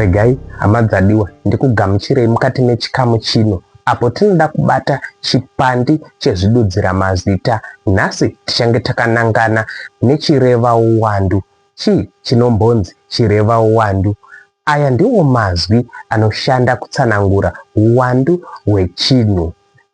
regai hama dzadiwa ndikugamuchirei mukati mechikamu chino apo tinoda kubata chipandi chezvidudzira mazita nhasi tichange takanangana nechireva uwandu chii chinombonzi chireva uwandu Aya ndiwo mazwi anoshanda kutsanangura huwandu hwechinhu.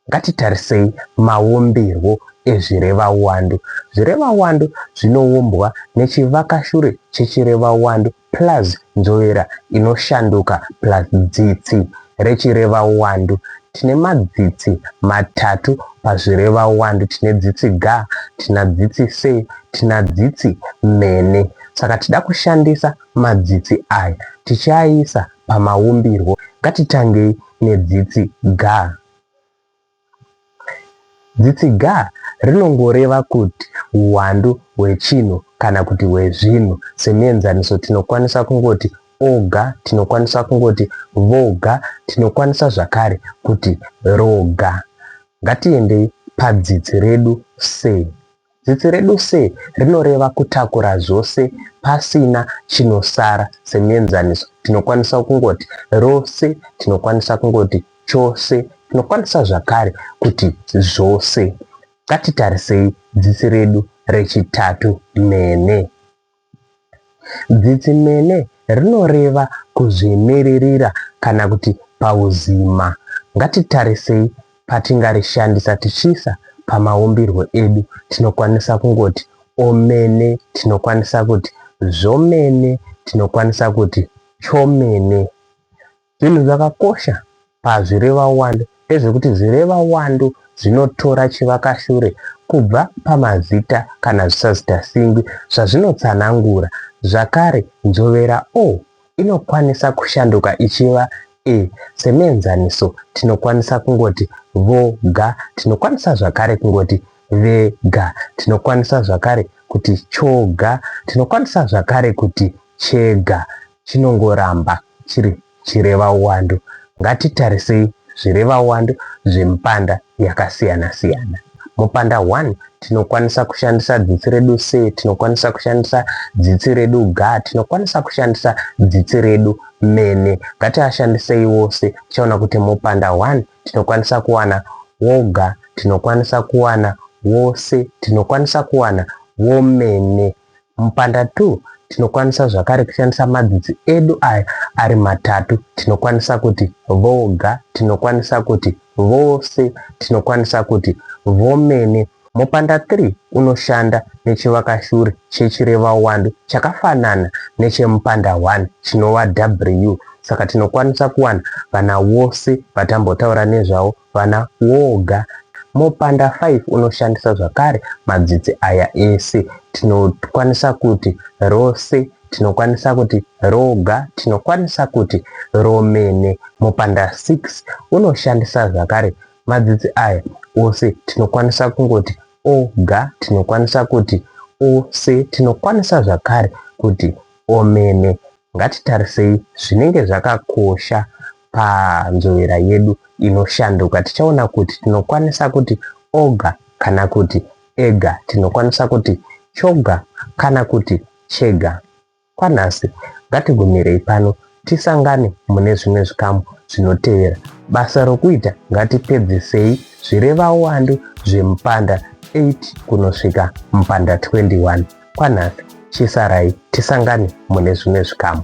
Ngatitarisei maumbirwo ezvirevawandu. Zvirevawandu zvinoumbwa nechivakashure chechirevawandu plus nzvovera inoshanduka plus dzitsi rechirevawandu. Tine madzitsi matatu pazvirevawandu, tine dzitsi ga, tina dzitsi se, tina dzitsi mene. Saka tida kushandisa madzitsi aya tichiaisa pamaumbirwo. Ngatitangei nedzitsi ga. Dzitsi ga rinongoreva kuti huwandu hwechinhu kana kuti hwezvinhu. Semienzaniso tinokwanisa kungoti oga, tinokwanisa kungoti voga, tinokwanisa zvakare kuti roga. Ngatiendei padzitsi redu se. Zita redu se rinoreva kutakura zvose pasina chinosara. Semuenzaniso, tinokwanisa kungoti rose, tinokwanisa kungoti chose, tinokwanisa zvakare kuti zvose. Ngatitarisei zita redu rechitatu, Mhene. Dzitsimene rinoreva kuzvimiririra kana kuti pauzima. Ngatitarisei patingarishandisa tichiisa pamaumbirwo edu. Tinokwanisa kungoti omene, tinokwanisa kuti zvomene, tinokwanisa kuti chomene. Zvinhu zvakakosha pazvirevawando ndezvekuti zvirevawando zvinotora chivakashure kubva pamazita kana zvisazitasinngwi zvazvinotsanangura. Zvakare, nzvovera o inokwanisa kushanduka ichiva e. Semuenzaniso, tinokwanisa kungoti, vo ga. Tinokwanisa zvakare kungoti, ve ga. Tinokwanisa zvakare kuti, cho ga. Tinokwanisa zvakare kuti, che ga. chinongoramba chiri chirevauwandu. Ngatitarisei zvirevauwandu zvemipanda yakasiyana-siyana. Mupanda 1 tinokwanisa kushandisa dzitsi redu se, tinokwanisa kushandisa dzitsi redu ga, tinokwanisa kushandisa dzitsi redu mene. Ngatiashandisei wose. Tichaona kuti mupanda 1 tinokwanisa kuwana woga, tinokwanisa kuwana wose, tinokwanisa kuwana womene. Mupanda 2 tinokwanisa zvakare kushandisa madzitsi edu aya ari matatu. Tinokwanisa kuti voga, tinokwanisa kuti vose, tinokwanisa kuti vomene. Mupanda 3 unoshanda nechivakashure chechirevawandu chakafanana nechemupanda 1 chinova W. Saka tinokwanisa kuwana vana vose vatambotaura nezvavo vana woga mopanda 5 unoshandisa zvakare madzitsi aya ese tinokwanisa kuti rose tinokwanisa kuti roga tinokwanisa kuti romene mopanda 6 unoshandisa zvakare madzitsi aya ose tinokwanisa kungoti oga tinokwanisa kuti ose tinokwanisa zvakare kuti omene ngatitarisei zvinenge zvakakosha panzvowera yedu inoshanduka tichaona kuti tinokwanisa kuti oga kana kuti ega tinokwanisa kuti choga kana kuti chega kwanhasi ngatigumirei pano tisangane mune zvimwe zvikamu zvinotevera basa rokuita ngatipedzisei zvireva uwandu zvemupanda 8 kunosvika mupanda 21 kwanhasi chisarai tisangane mune zvimwe zvikamu